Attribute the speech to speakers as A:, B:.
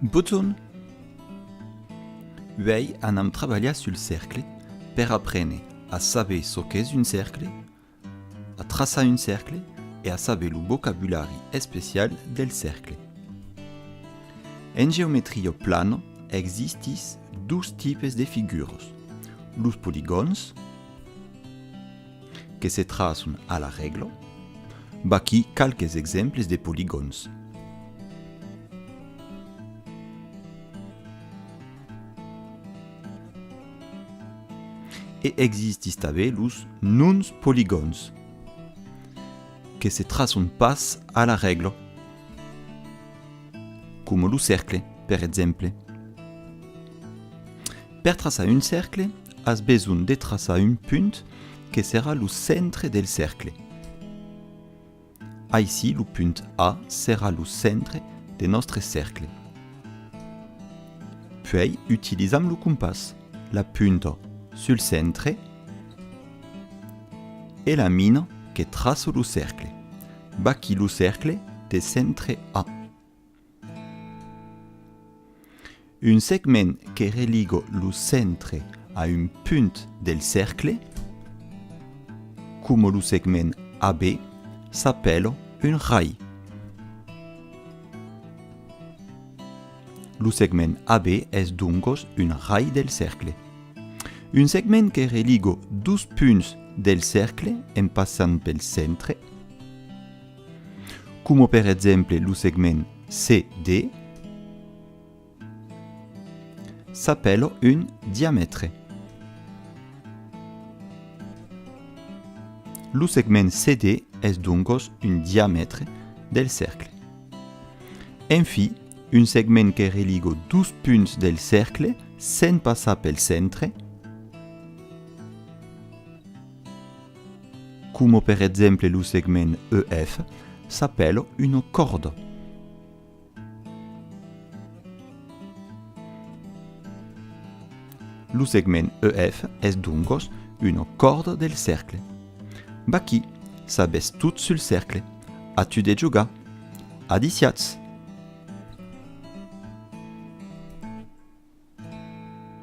A: Botton, Uèi anam trabalhar sul cercle per aprene a saber çò qu'es un cercle, a traçar un cercle e a saber lo vocabulari especial del cercle. En geometria plana existís dos tipes de figuras, los poligòns, que se traçon a la règla, vaquí qualques exemples de poligòns. E existís tanben los nons poligòns, que se traçon pas a la règla, coma lo cercle, per exemple. Per traçar un cercle, as besonh de traçar un punt que serà lo centre del cercle. Aicí lo punt A serà lo centre de nòstre cercle. Puèi utilizam lo compàs, la punta sul centre e la mina que traça lo cercle. Vaqui lo cercle de centre A. Un segment que religo lo centre a un punt del cercle, coma lo segment AB, s'apèla un rai. Lo segment AB es doncos un rai del cercle. Un segment que religo dos punts del cercle en passant pel centre, coma per exemple lo segment CD, s'apèla un diamètre. Lo segment CD es doncos un diamètre del cercle. En fi, un segment que religa dos punts del cercle sens passar pel centre, Coma per exemple lo segment EF s'apèla una còrda. Lo segment EF es doncas una còrda del cercle. Vaquí, sabètz tot sul cercle. A tu de jogar. Adiciatz!